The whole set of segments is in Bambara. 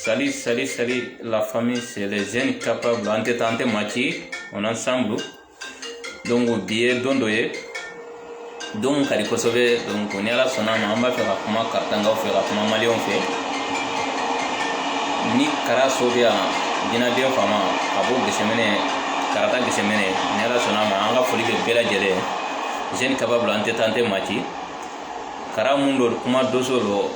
Salut, salut, salut la famille, c'est les jeunes capables an tɛ taa an tɛ maa ci on est ensemble donc bi ye don dɔ ye don ka di kosɛbɛ donc ni ala sɔnna ma an b'a fɛ ka kuma karatakaw fɛ ka kuma maliw fɛ ni kara so bɛ yan jinaden fama ka bɔ gɛsɛmɛnɛ karata gɛsɛmɛnɛ ni ala sɔnna ma an ka foli bɛ bɛɛ lajɛlen jeunes capables an tɛ taa an tɛ maa ci kara mun don kuma doso don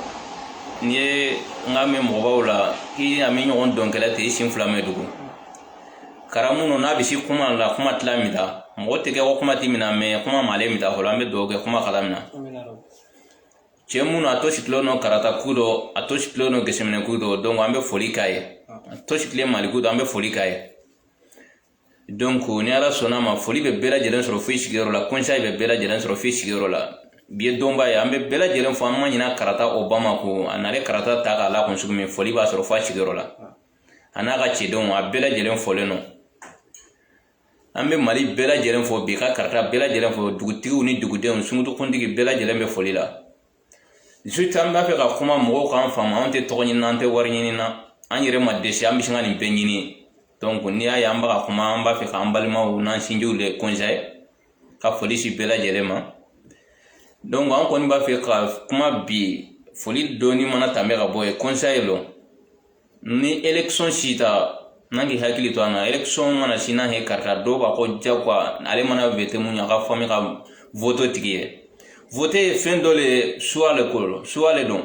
n'i ye n ka mɛn mɔgɔbaw la k'i a mi ɲɔgɔn dɔnkɛla ten i sen fila mɛ dugu kara minnu n'a bɛ se kuma la kuma tila min ta mɔgɔ tɛ kɛ ko kuma tɛ min na mɛ kuma malen min ta fɔlɔ an bɛ dugawu kɛ kuma kala min na cɛ minnu a to sigilen nɔ karata ku dɔ a to sigilen nɔ gɛsɛminɛ ku dɔ donc an bɛ foli k'a ye a to sigilen mali ku dɔ an bɛ foli k'a ye donc ni ala sɔnna ma foli bɛ bɛɛ lajɛlen sɔrɔ fo i sigiyɔrɔ la conseil bɛ bɛɛ lajɛlen sɔrɔ fo i sigiyɔrɔ la bi ye donba ye an bɛ bɛɛ lajɛlen fo an ma ɲina karata obama ko a nale karata ta k'a la kun sugu min foli b'a sɔrɔ fo a sigiyɔrɔ la a n'a ka cidenw a bɛɛ lajɛlen folen don an bɛ mali bɛɛ lajɛlen fo bi ka karata bɛɛ lajɛlen fɔ dugutigiw ni dugudenw sunkutukuntigi bɛɛ lajɛlen bɛ foli la surtout an b'a fɛ ka kuma mɔgɔw k'an faamu anw tɛ tɔgɔ ɲini na an tɛ wari ɲini na an yɛrɛ ma dɛsɛ an bɛ sin ka nin bɛɛ ɲini donc n'i y'a ye an bɛ ka kuma an b'a fɛ k'an balimaw n'an sinjiw de kɔnsɛye ka foli si bɛɛ lajɛlen ma donc an kɔni b'a fɛ ka kuma bi foli dɔɔni mana tɛmɛ ka bɔ yen kɔnsɛye lɔ ni élection si ta n'an k'i hakili to an na élection mana si n'a ye karata dɔw b'a ko jagoya ale mana vote mun ye a ka famille ka vote tigi ye vote ye fɛn dɔ le ye choix le ko lo choix le don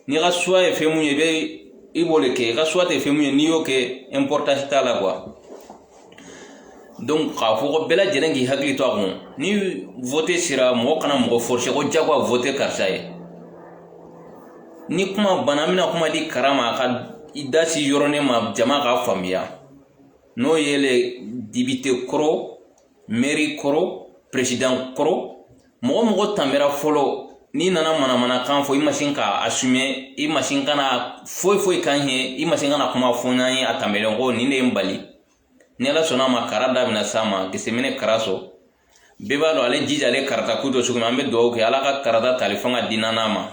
n'i ka choix ye fɛn mun ye i bɛ i b'o le kɛ i ka choix tɛ fɛn mun ye n'i y'o kɛ importance t'a la quoi donc k'a fɔ ko bɛɛ lajɛlen k'i hakili to a kun ni vote sera mɔgɔ kana mɔgɔ forcer ko jagoya vote karisa ye ni kuma banna an bɛna kuma di kara ma a ka i da si yɔrɔnin ma jama k'a faamuya n'o ye le député ko rɔ mairie ko rɔ président ko rɔ mɔgɔ mɔgɔ tanbera fɔlɔ n'i nana manamanakan fɔ i ma sin ka a assumer i ma sin ka na foyi foyi k'an ye i ma sin ka na kuma fɔ n'an ye a tanbɛlen ko nin de ye n bali ni ala sɔnna ma kara da bɛna s'a ma gɛsɛmɛnɛ kara so bɛɛ b'a dɔn ale jija ale karata ku dɔ sugu min an bɛ dugawu kɛ ala ka karata tali fanga di naan'a ma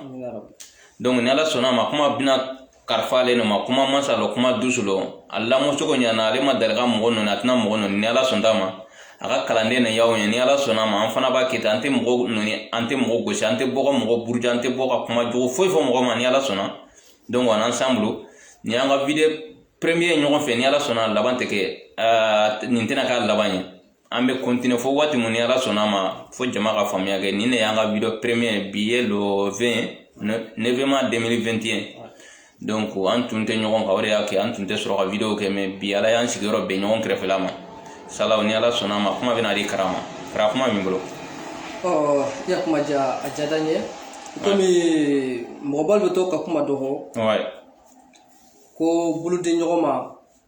donc ni ala sɔnna ma kuma bɛna karifa ale ma kuma masa lɔ kuma dusu lɔ a lamɔ cogo ɲana ale ma dali ka mɔgɔ nɔni a tɛna mɔgɔ nɔni ni ala sɔnta ma a ka kalanden na y'aw ye ni ala sɔnna ma an fana b'a kɛ ten an tɛ mɔgɔ nɔni an tɛ mɔgɔ gosi an tɛ bɔ ka mɔgɔ buruja an tɛ bɔ ka kuma jugu foyi fɔ mɔgɔ ma ni ala sɔnna donc on ensemble nin y'an ka video premier ɲɔgɔn fɛ ni ala sɔnna laban tɛ kɛ nin tɛna k'a laban ye an bɛ continuer fo waati mun ni ala sɔnna ma fo jama ka faamuya kɛ nin de y'an ka video premier bi ye le 20 novembre 2021 donc an tun tɛ ɲɔgɔn kan o de y'a kɛ an tun tɛ sɔrɔ ka video kɛ mais bi ala y'an sigiyɔrɔ bɛn ɲɔgɔn kɛrɛfɛla mashallah ni ala sɔnna ma kuma bɛna di kara ma kara kuma min bolo ɔ ya kuma diya a diyada n ye komi mɔgɔba bɛ to ka kuma dɔ fɔ ko bolo di ɲɔgɔn ma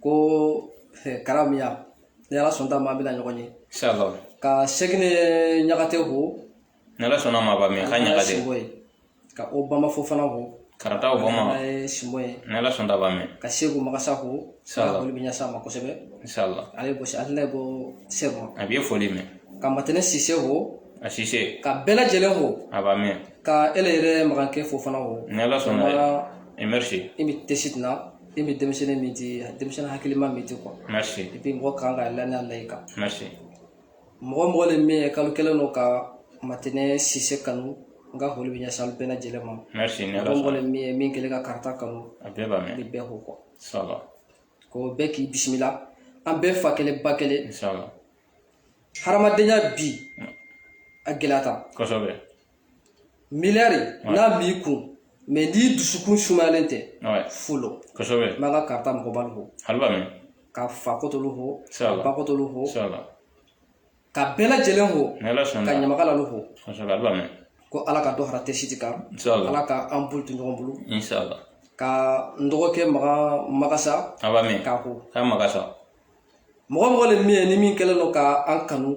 ko karabiya ni ala sɔnna ma an bɛna ɲɔgɔn ye ka sɛkɛnɛ ɲagate fo ni ala sɔnna ma a b'a mɛn ka ɲagate ka obama fofana fo karata obama ye sinbo ye ni ala sɔnna a b'a mɛn ka seku magasa fo foli bɛ ɲɛsin a ma kosɛbɛ ale ko ale ne ko seku a bɛ foli mɛn ka matɛnɛ sise fo a sise ka bɛɛ lajɛlen fo a b'a mɛn ka ele yɛrɛ magankɛ fofana fo ni ala sɔnna merci i bɛ tesi na i bɛ denmisɛnnin min di denmisɛnnin hakilima min di quoi et puis mɔgɔ kan ka lani layi kan mɔgɔ mɔgɔ le min ye kalo kelen don ka matɛnɛ sise kanu n ka foli bɛ ɲɛsin bɛɛ lajɛlen ma mɔgɔ mɔgɔ le min ye min kelen ka karata kanu n bɛ bɛɛ fo quoi ko bɛɛ k'i bisimila an bɛɛ fa kelen ba kelen hadamadenya bi a gɛlɛyata miliyari n'a b'i kun mais n'i dusukun sumayalen tɛ fu lo kosɛbɛ n b'an ka karita mɔgɔbalu fo alu b'a mɛn ka fa kotolu fo ka ba kotolu fo ka bɛɛ lajɛlen fo ka ɲamakalalu fo kosɛbɛ alu b'a mɛn ko ala ka dɔ fara tɛsiti kan ala ka an bolo to ɲɔgɔn bolo ka n dɔgɔkɛ maga magasa alu b'a mɛn k'a fo k'a magasa mɔgɔ mɔgɔ le min ye ni min kɛlen don ka an kanu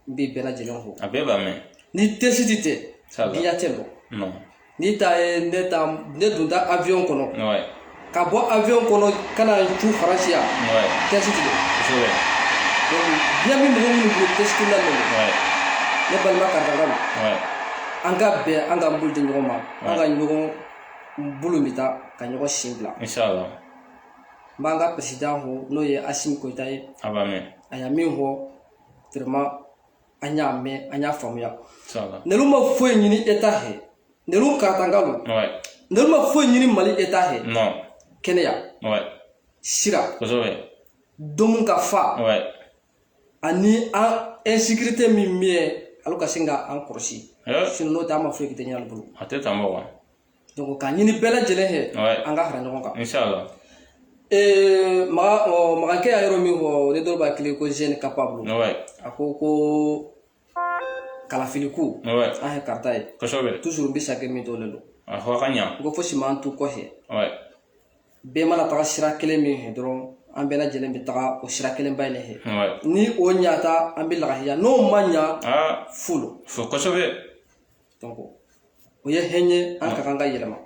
n bɛ bɛɛ lajɛlen fo a bɛɛ b'a mɛn ni tɛsiti tɛ sabu diɲɛ tɛ bɔ non n'i ta ye ne ta ne donda avion kɔnɔ ouais ka bɔ avion kɔnɔ ka na cun faransi yan ouais tɛsiti de kosɛbɛ donc diɲɛ bɛ mɔgɔ minnu bolo tɛsiti la ouais ne balima karitankalu ouais an ka bɛn an ka bolo di ɲɔgɔn ma an ka ɲɔgɔn bolo minta ka ɲɔgɔn sen bila inshallah n b'an ka président fo n'o ye asimi koyita ye a b'a mɛn a y'a min fɔ vraiment an y'a mɛn an y'a faamuya nelu ma foyi ɲini état fɛ nelu karatankalu nelu ma foyi ɲini mali état fɛ kɛnɛya sira domu ka fa ani an insécurité min bɛ yen alu ka sin ka an kɔlɔsi n'o tɛ an ma foyi kɛ ɲɛ bolo a tɛ tan bɔ wa donc k'a ɲini bɛɛ lajɛlen fɛ Ouais. an ka fara ɲɔgɔn kan Inch'Allah. Eh, maga ɔ, magankɛ y'a yɔrɔ min fɔ ne dɔw b'a kile ko jeune capable Ouais. a ko ko kalafili ko Ouais. an ye karata ye Kosɛbɛ. toujours n bɛ sake min tɔlen don A fɔ a ka ɲa. n ko fosi m'an to kɔfɛ Ouais. bɛɛ mana taga sira kelen min fɛ dɔrɔn an bɛɛ lajɛlen bɛ taga o sira kelenba in de fɛ Ouais. ni o ɲata an bɛ lahiya n'o ma ɲa Ah, fo don fo kosɛbɛ. o ye hɛɲɛ an ka kan ka yɛlɛma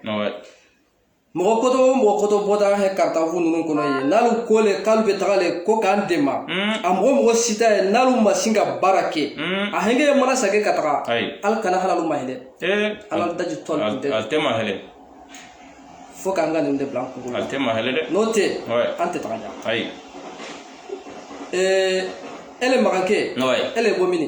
mɔgɔ kɔtɔ o mɔgɔ kɔtɔ bɔta hɛ karitafu ninnu kɔnɔ ye n'alu ko le k'alu bɛ taga le ko k'an dɛmɛ a mɔgɔ mɔgɔ si t'a ye n'alu ma sin ka baara kɛ a hɛngɛ ye mana sake ka taga alu kana hali alu ma hinɛ ala daji tɔn tɛ a tɛ ma hɛlɛ fo k'an ka nin de bila an kunkolo la a tɛ ma hɛlɛ dɛ n'o tɛ an tɛ taga ɲa ayi ee ele magankɛ ele bɔ mini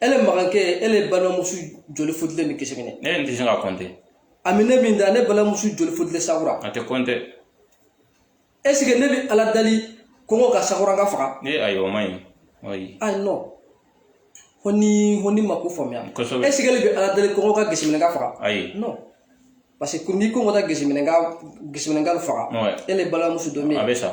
e le magankɛ e le balimamuso joli futulen Geseminɛ ne yɛrɛ tɛ se ka compter ami ne min da ne balimamuso joli futulen Sakura a tɛ compter est-ce que ne bɛ ala dali kɔngɔ ka Sakuranka faga ne ayi o ma ɲi ayi ayi non ko ni ko n'i ma ko faamuya kosɛbɛ est-ce que ne bɛ ala dali kɔngɔ ka Geseminɛnka faga ayi non parce que ni kɔngɔ ka Geseminɛ ka Geseminɛnka faga e le balimamuso dɔ min a bɛ sa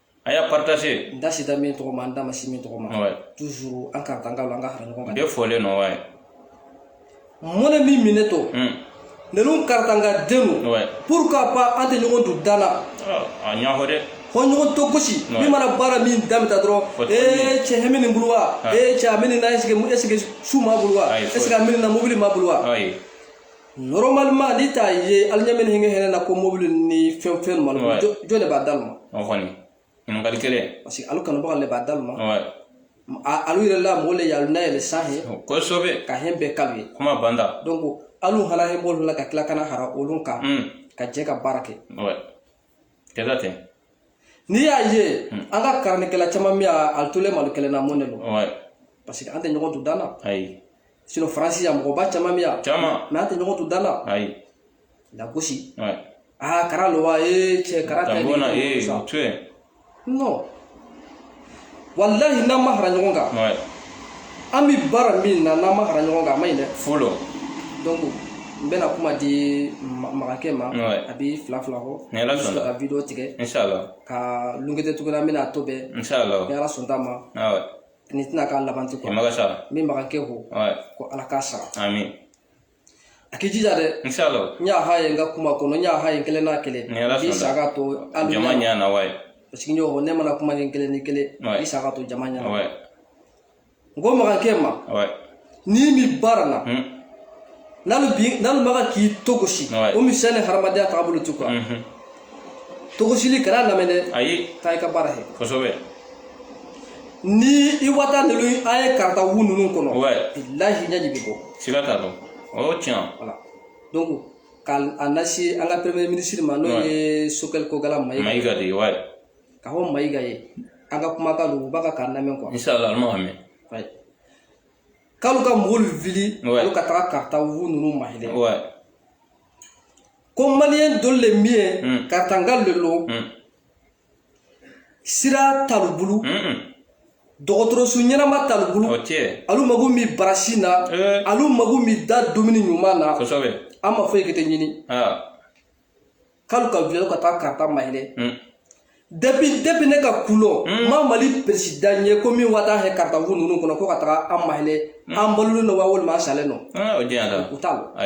a y'a partager n da sita min tɔgɔ ma n da ma si min tɔgɔ ma ouais. toujours an karitanga an ka fara ɲɔgɔn kan bɛɛ fɔlen nɔ ouais. mɔnɛ min minɛ to mm. ninnu karitanga den don ouais. pourquoi pas an tɛ ɲɔgɔn to danna a ɲahɔ dɛ fo ɲɔgɔn to gosi min mana baara min damita dɔrɔn ee cɛ hɛn mi nin bolo wa ee cɛ a mini na est-ce que est-ce que su m'a bolo wa est-ce que a mini na mobili m'a bolo wa normalement n'i t'a ye alu ɲɛ min hinɛ hɛrɛ na ko mobili ni fɛn ninnu ma jɔn de b'a d'alu ma o kɔni ɲininkali kelen parce que alu kanubaga le b'a d'alu ma alu yɛrɛ la mɔgɔ le y'alu nayɛlɛ sanhɛ kosɛbɛ ka hɛn bɛɛ k'alu ye kuma banda donc alu hana hɛn b'olu la ka tila ka na hara olu kan ka jɛ ka baara kɛ kɛlɛ tɛ n'i y'a ye hmm. an ka karanikɛla caman min a tolen malo kɛlɛ na mun de don parce que an tɛ ɲɔgɔn to danna ayi sinon faransi yan mɔgɔba caman bɛ yan caman mais an tɛ ɲɔgɔn to danna ayi lagosi aa kara lo wa ee cɛ kara tɛ ni ko sa non walahi n'an ma hara ɲɔgɔn kan Ouais. an bɛ baara min na n'an ma hara ɲɔgɔn kan a ma ɲi dɛ Folo. donc n bɛna kuma di Ma- magankɛ ma Ouais. a bɛ fila fila fɔ Ni Ala sɔnna. ka video tigɛ Inch'Allah. ka lungete tuguni an bɛna a to bɛɛ ni Inch'Allah. ala sɔnt'a ma Ah ouais. nin tɛna k'a laban tɛ quoi Magasa. n bɛ magankɛ fo Ouais. ko ala k'a sara Amin. a k'i jija dɛ inshallah n y'a ha ye n ka kuma kɔnɔ n y'a ha ye kelen n'a kelen k'i sa ka to hali jama ɲɛ na wa ye parce que ɲɔgɔn ne mana kuma ni kelen ni kelen i sa ka to jama ɲɛ na n ko magankɛ ma n'i mi baara la n'ale bi n'alu maga k'i togosi o misɛn ni hadamadenya taabolo tu kan togosili kana lamɛn dɛ ayi taa i ka baara kɛ kosɛbɛ ni i wata ninnu an ye karata wu ninnu kɔnɔ bilahi ɲɛji bɛ bɔ siga t'a dɔ o y'o tiɲɛ voilà donc ka a lase an ka premier ministre ma n'o ye sokɛli kogala mayiga mayiga de ye wa ka fɔ mayiga ye an ka kumakan don u b'a ka k'a lamɛn quoi inshallah an b'a mɛn k'alu ka mɔgɔw wuli olu ka taga karata wu ninnu mahɛlɛ ko maliyɛn dɔ le mi yen karatanga le don sira t'alu bulu dɔgɔtɔrɔso ɲɛnama t'alu bulu alu mago mi barasi na alu mago mi da dumuni ɲuman na an ma foyi kete ɲini k'alu ka wuli ka taa karata mahɛlɛ depuis depuis ne ka ko lɔn n ma mali peresidan ye ko min wata hɛ karata wu ninnu kɔnɔ ko ka taga an mahɛlɛ an balolen don wa walima an salen don u t'a la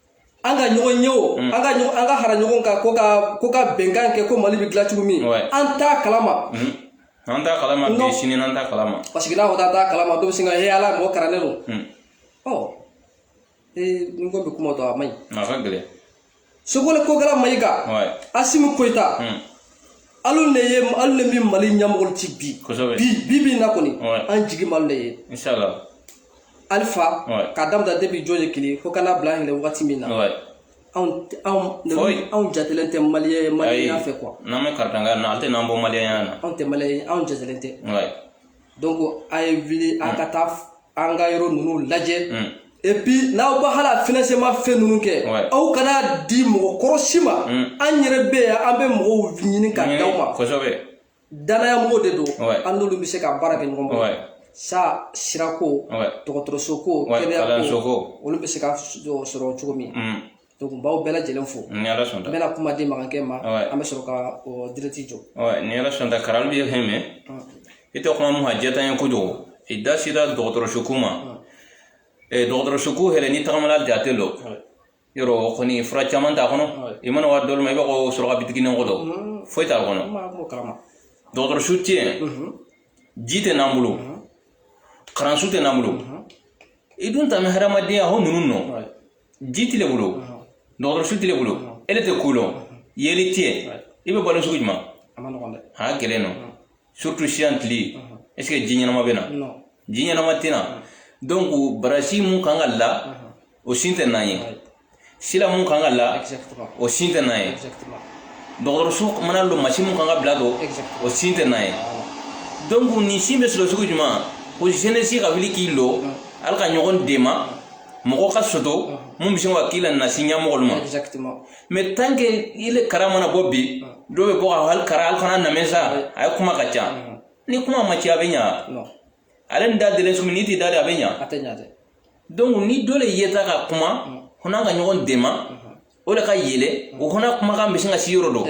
an ka ɲɔgɔn ye o mm. an ka an ka fara ɲɔgɔn kan ko ka ko ka bɛnkan kɛ ko mali bɛ dilan cogo min an t'a kalama mm. an t'a kalama bi sini an t'a kalama parce que n'a fɔ k'an t'a kalama dɔ bɛ sin ka he ala mɔgɔ karannen don mm. ɔ ee n ko bɛ kuma dɔn a man ɲi a ka gɛlɛn sogole kogala mayiga asimu koyita alu de ye alu de bɛ mali ɲɛmɔgɔlu ti bi bi bi bi in na kɔni an jigi m'alu de ye alifa ka daminɛ debi jɔn ye kelen fo ka na bila ɲini wagati min na anw jatelen tɛ maliyɛn maliyɛn fɛ quoi n'an bɛ karatanga na an tɛ n'an bɔ maliyɛnya na anw tɛ mali anw jatelen tɛ donc a ye wuli an ka taa an ka yɔrɔ ninnu lajɛ et puis n'aw ba hala financement fɛn ninnu kɛ aw kana di mɔgɔ kɔrɔ si ma an yɛrɛ bɛ yan an bɛ mɔgɔw ɲini ka di aw ma danaya mɔgɔw de don an n'olu bɛ se ka baara kɛ ɲɔgɔn bolo sa sirako dɔgɔtɔrɔso ko kɛnɛya ko olu bɛ se ka sɔrɔ cogo min donc n b'aw bɛɛ lajɛlen fo ni ala sɔnna n bɛna kuma di magankɛ ma an bɛ sɔrɔ ka direct jɔ ni ala sɔnna kalan bɛ fɛn mɛn i tɛ kuma mun ka jɛ ye kojugu i da sera dɔgɔtɔrɔso ko ma dɔgɔtɔrɔso ko hɛrɛ ni tagamala jate lɔ yɔrɔ o kɔni fura caman t'a kɔnɔ i mana wa yɔrɔ dɔlu ma i b'a fɔ suraka bitiginin kɔtɔ don foyi t'a kɔnɔ dɔgɔtɔrɔsu tɛ yen ji tɛ n'an bolo kalanso tɛ n'an bolo i dun ta bɛ hadamadenya ko ninnu nɔ ji t'ile bolo dɔgɔtɔrɔsu t'ile bolo ile tɛ ko lɔn yeelen tɛ yen i bɛ balo sugu jumɛn a gɛlɛn nɔ surtout siyan tile est ce que ji ɲɛnama bɛ na ji ɲɛnama tɛ na donc barasi mun kan ka la o sin tɛ n'an ye sila mun kan ka la o sin tɛ n'an ye dɔgɔtɔrɔso mana lo masin mun kan ka bila don o sin tɛ n'an ye donc nin sin bɛ sɔrɔ sugu jumɛn o jeunesse ka wuli k'i lo ala ka ɲɔgɔn dema mɔgɔ ka soto mun bɛ sin ka k'i la nasi ɲɛmɔgɔlu ma mais tant que i le kara mana bɔ bi dɔw bɛ bɔ ka hali kara hali fana namɛ sa a ye kuma ka ca ni kuma ma ci a bɛ ɲa ale ni da delen sumi n'i t'i da de a bɛ ɲa donc ni dɔ le yeta ka kuma hɔ n'an ka ɲɔgɔn dema o le ka yɛlɛ o hɔ n'an kumakan bɛ sin ka si yɔrɔ dɔ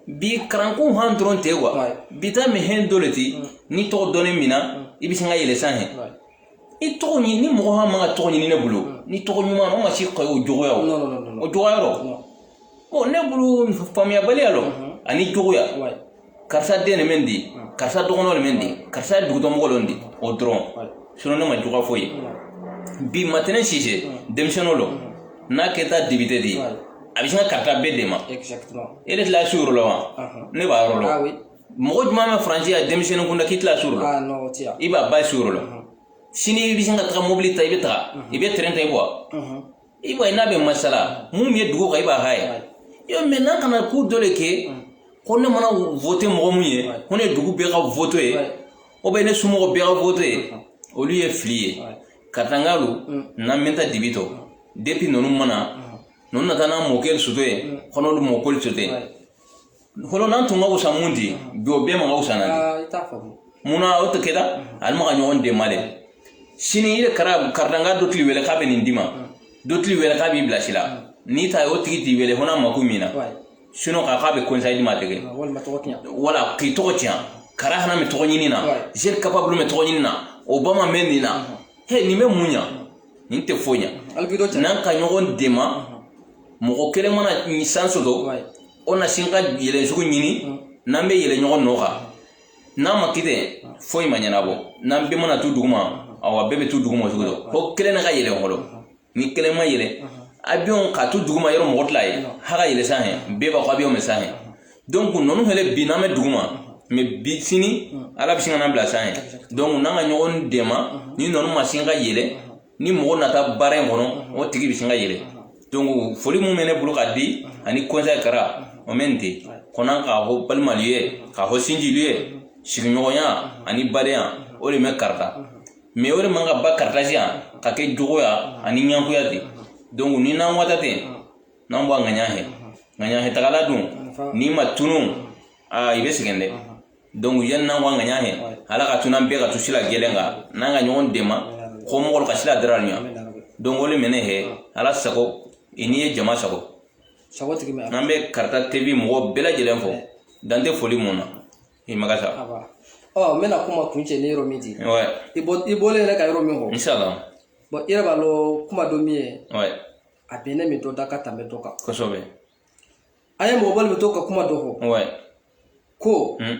bi karanko han dɔrɔn tɛ wa bi ta mɛ hɛn dɔ le ti n'i tɔgɔ dɔnnen min na i bɛ sin ka yɛlɛ san hɛ i tɔgɔ ɲini ni mɔgɔ han man ka tɔgɔ ɲini ne bolo ni tɔgɔ ɲuman o ma si ka o juguya o o juguya yɔrɔ bon ne bolo faamuyabaliya lɔ ani juguya karisa den de mɛ di karisa dɔgɔnɔ de mɛ di karisa ye dugutɔmɔgɔ lɔ di o dɔrɔn sinon ne ma juguya foyi bi maintenant sise denmisɛnninw lɔ n'a kɛta député de ye a bɛ sin ka karita bɛɛ dema e de tila su yɔrɔ la wa ne b'a yɔrɔ la mɔgɔ jumɛn bɛ faransi ya denmisɛnnin kunda k'i tila su yɔrɔ la i b'a ba su yɔrɔ la sini i bɛ sin ka taga mobili ta i bɛ taga i bɛ tɛrɛn ta i bɔ i b'a ye n'a bɛ masala mun ye dugu kan i b'a ha ye yɔrɔ mais n'an kana ko dɔ le kɛ ko ne mana vote mɔgɔ mun ye ko ne dugu bɛɛ ka vote ye o bɛ ne somɔgɔ bɛɛ ka vote ye olu ye fili ye karitankalu n'an bɛ taa dibi tɔ depuis ninnu ma na ninnu nata n'a mɔkɛ soto ye kɔnɔlu mɔkoli soto ye hɔlɔ n'an tun ka wusa mun di bi o bɛɛ ma ka wusa na mun na o tɛ kɛta ani ma ka ɲɔgɔn dema dɛ sini i de kara karitanka dɔ t'i le wele k'a bɛ nin d'i ma dɔ t'i le wele k'a b'i bila sila n'i ta ye o tigi t'i wele hɔ n'a mako m'i na sinon k'a k'a bɛ conseil d'i ma tɛgɛ wala k'i tɔgɔ tiɲɛ kara hana bɛ tɔgɔ ɲini na zeri kapabulu bɛ tɔgɔ ɲini na o ba ma mɛ nin na he nin bɛ mun ɲa nin tɛ foyi ɲa n'an ka ɲɔgɔn dema mɔgɔ kelen mana chance soto o na sin ka yɛlɛ sugu ɲini n'an bɛ yɛlɛ ɲɔgɔn nɔ kan n'a ma kɛ ten foyi ma ɲɛnabɔ n'an bɛɛ mana to duguma awa bɛɛ bɛ to duguma cogo dɔ fo kelen na ka yɛlɛ fɔlɔ ni kelen ma yɛlɛ avion ka to duguma yɔrɔ mɔgɔ tila ye h'a ka yɛlɛ san hɛ bɛɛ b'a fɔ avion bɛ san hɛ donc ninnu fɛnɛ bi n'an bɛ duguma mais bi sini ala bɛ sin ka n'an bila san hɛ donc n'an ka ɲɔgɔn dema ni ninnu ma sin ka yɛlɛ ni mɔgɔ nata baara in kɔnɔ o tigi bɛ sin ka yɛlɛ donc foli mun mɛ ne bolo ka di ani conseil kara o mɛ nin tɛ kɔnɔ k'a fɔ balimalu ye k'a fɔ sinjilu ye sigiɲɔgɔnya ani badenya o de mɛ karita mais o de man ka ban karita siya ka kɛ juguya ani ɲankuya di donc ni n'an wata tɛ n'an bɔ ŋaɲa hɛ ŋaɲa hɛtagala dun n'i ma tunun aa i bɛ sɛgɛn dɛ donc yanni n'an k'an ka ɲa hɛ ala ka tu n'an bɛɛ ka tu sila kelen kan n'an ka ɲɔgɔn dɛma ko mɔgɔlu ka sila dara ɲa donc o le mɛnɛ hɛ ala sago i n'i ye jama sago n'an bɛ karita tv mɔgɔ bɛɛ lajɛlen fo dan tɛ foli min na i maga sa ɔ n bɛna kuma kuncɛ ni yɔrɔ min di i bɔlen yɛrɛ ka yɔrɔ min fɔ inshallah bon i yɛrɛ b'a lɔn kuma dɔ min ye a bɛnnen min dɔ da ka tɛmɛ dɔ kan kosɛbɛ an ye mɔgɔbalu bɛ to ka kuma dɔ fɔ Ouais. ko Hmm.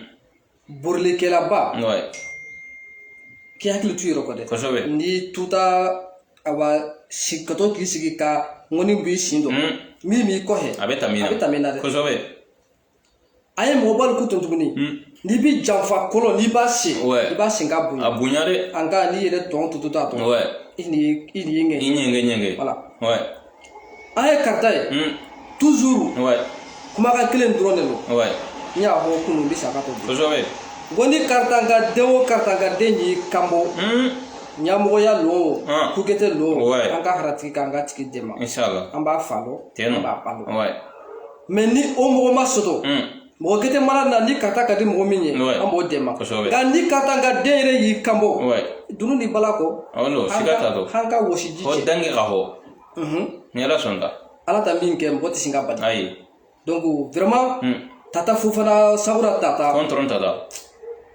borilikɛlaba Ouais. k'i hakili tu i yɛrɛ kɔ dɛ Kosɛbɛ. n'i tuta a wa si ka to k'i sigi ka ŋɔni b'i sin dɔ Hmm. min b'i kɔfɛ A bɛ tami na. a bɛ tami na dɛ Kosɛbɛ. a ye mɔgɔbalu ko to tuguni n'i bi janfa kɔlɔn n'i b'a sen i b'a sen k'a bonya a bonya dɛ an ka n'i yɛrɛ tɔn to to a tɔ i ni i ni ɲɛgɛn i ɲɛgɛn ɲɛgɛn voilà an ye karita ye toujours kumakan kelen dɔrɔn de don n y'a fɔ kunun bi saga to kosɛbɛ ko ni karitanka den o karitanka den y'i kanbɔ ɲamɔgɔya lo kukɛtɛ lo an ka hara a tigi kan k'a tigi dɛmɛ an b'a fa lɔn an b'a ba lɔn mais ni o mɔgɔ ma soto hmm. mɔgɔ gɛtɛ mana na ni karita ka di mɔgɔ min ye an b'o dɛmɛ nka ni karitanka den yɛrɛ y'i kanbɔ dunu ni bala kɔ an ka wɔsiji cɛ dange ka hɔ mhm. ni ala sɔnna ala ta min kɛ mɔgɔ tɛ sin k'a bali ayi donc vraiment hmm. tata fofana sagura tata kɔntɔn tata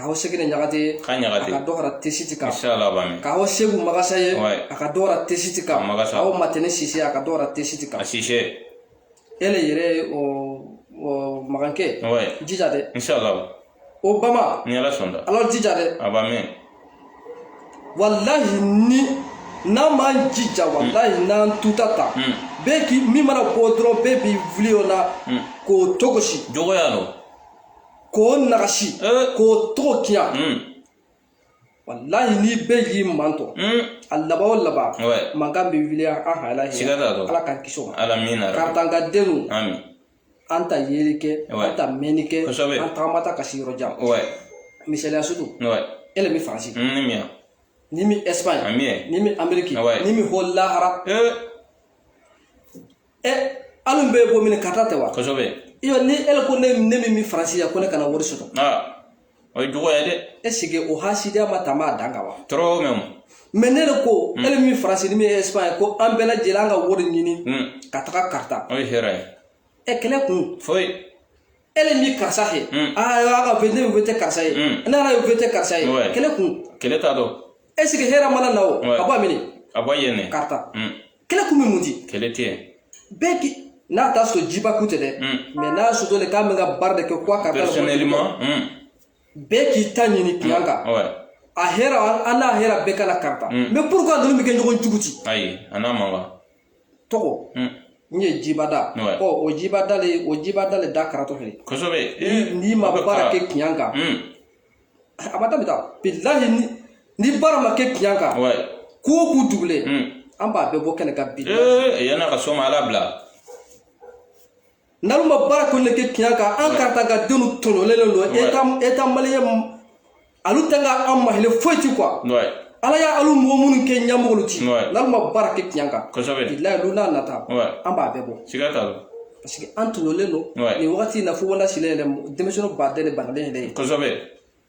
k'a hɔ sɛkɛnɛ ɲagati ka ɲagati ka dɔ fara tɛsiti kan k'a hɔ seku magasa ye a ka dɔ fara tɛsiti kan aw matɛnɛ sise a ka dɔ fara tɛsiti kan sise e le yɛrɛ o magankɛ jija dɛ o b'a mɛn ni ala sɔnna alu jija dɛ a b'a mɛn walahi ni n'an m'an jija walahi n'an tuta ta bɛɛ k'i min mana bɔ dɔrɔn bɛɛ b'i wuli o la k'o togosi juguya don k'o nagasi k'o tɔgɔ tiɲa walahi n'i bɛɛ y'i manto a laban o laban mankan bɛ wuli an hala ala k'an kisi o ma karitanka denu an ta yeli kɛ an ta mɛnni kɛ an tagamata ka se yɔrɔ jan misaliya sugu e le bɛ faransi ni min ɛsipaɲi ni min ameriki ni min ko lahara ɛ alu an bɛ bɔ min karita tɛ wa kosɛbɛ iyo ni e le ko ne min bɛ faransi yan ko ne kana wori soto o ye juguya ye dɛ e sigi o hasidiya ma ta ma dan ka wa tɔɔrɔ mais mais ne le ko e le min faransi ni min ye espagne ko an bɛɛ lajɛlen an ka wori ɲini ka taga karita o ye hɛrɛ ye ɛ kɛlɛ kun foyi e ni min karisa ye aa y'a ka ne bɛ tɛ karisa ye ne ala ye bɛ tɛ karisa ye kɛlɛ kun kɛlɛ t'a dɔn e sigi hɛrɛ mana na o a b'a minɛ a b'a yɛlɛ karita kɛlɛ kun bɛ mun di kɛlɛ tɛ bɛɛ k'i n'a t'a sɔrɔ jiba kun tɛ dɛ mais n'a sɔrɔ de k'a bɛ ka baara de kɛ quoi karita personnellement bɛɛ k'i ta ɲini kiɲan kan a hɛrɛ an n'a hɛrɛ bɛɛ ka la karita mais pourquoi ninnu bɛ kɛ ɲɔgɔn jugu ti ayi a n'a man kan tɔgɔ n ye jibada ɔ o jibada le o jibada le da karatɔ fɛ kosɛbɛ n'i ma baara kɛ kiɲan kan a ma daminɛ bilahi ni baara ma kɛ kiɲan kan ko o ko dugulen an b'a bɛɛ bɔ kɛnɛ kan bi yann'a ka sɔn ma ala bila N'alu ma baara kɔni kɛ tiɲɛ kan an karata ka denw tɔɲɔlen don eta maliyɛn alu tɛ ka an mahilɛ foyi ti quoi ala y'a alu mɔgɔ minnu kɛ ɲɛmɔgɔlu ti n'alu ma baara kɛ tiɲɛ kan bilahi lu n'a nata an b'a bɛɛ bɔ siga t'a la parce que an tɔɲɔlen don nin wagati in na fo wala sigilen yɛrɛ denmisɛnnin ba dɛsɛ balen yɛrɛ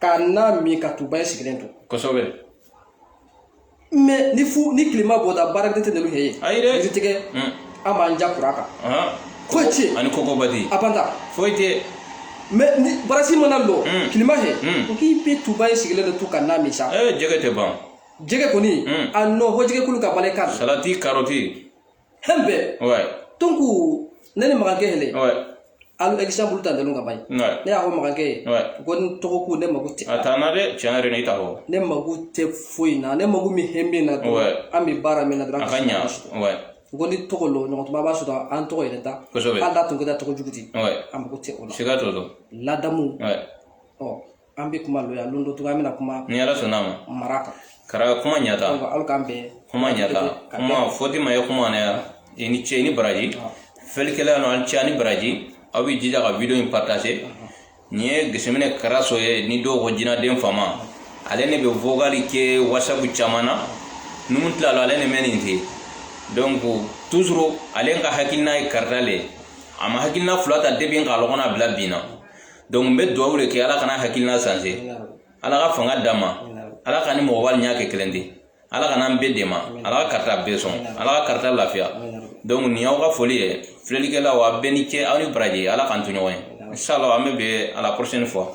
ka na min ka tuba ye sigilen to kosɛbɛ mais ni tilema bɔda baara de tɛ nɛlu ye ayi dɛ yiri tigɛ an b'an ja kura kan foyi tɛ ani kɔkɔba tɛ a banta foyi tɛ mais ni barasi mana lɔ tilema hɛ ko k'i bɛ tuba ye sigilen de to ka na min sa jɛgɛ tɛ ban jɛgɛ kɔni a nɔ hɔ jɛgɛ kulu ka balɛ ka salati karɔti hɛn bɛɛ donc ne ni magankɛ yɛlɛ alu exemple ta ndelu ka ban ne y'a fɔ magankɛ ye ko ni tɔgɔ ko ne mago tɛ a t'an na dɛ tiɲɛ yɛrɛ n'i ta fɔ ne mago tɛ foyi na ne mago min hɛn bɛ na dɔrɔn an bɛ baara min na dɔrɔn a ka ɲa ko ni tɔgɔ lo ɲɔgɔn tuma b'a sɔrɔ an tɔgɔ yɛrɛ da kosɛbɛ hali n'a tun kɛra tɔgɔ jugu di an mago tɛ o la siga t'o la ladamu ɔ an bɛ kuma lɔ yan don dɔ cogoya an bɛna kuma ni ala sɔnna ma mara kan kara kuma ɲata aw k'an bɛn kuma ɲata kuma fɔti ma ye kuma na ya i ni ce i ni baraji fɛlikɛlalu aw ni ce ni baraji aw bɛ jija ka video in partager nin ye geseminɛ karaso ye ni dɔw ko jinaden fama ale ne bɛ vocal kɛ whatsapp caman na numu tilala ale ne mɛ nin te donc toujours ale ka hakilina ye karita le ye a ma hakilina fila ta depuis k'a lɔgɔna bila bin na donc n bɛ dugawu de kɛ ala kan'a hakilina changer ala ka fanga d'a ma ala k'a ni mɔgɔbalu ɲa kɛ kelen ti ala k'a n'an bɛɛ dɛmɛ ala ka karita bɛɛ sɔn ala ka karita lafiya donc nin y'aw ka foli ye filɛlikɛlaw a bɛɛ ni ce aw ni baraji ala k'an to ɲɔgɔn ye inshallah an bɛ bɛn à la prochaine fois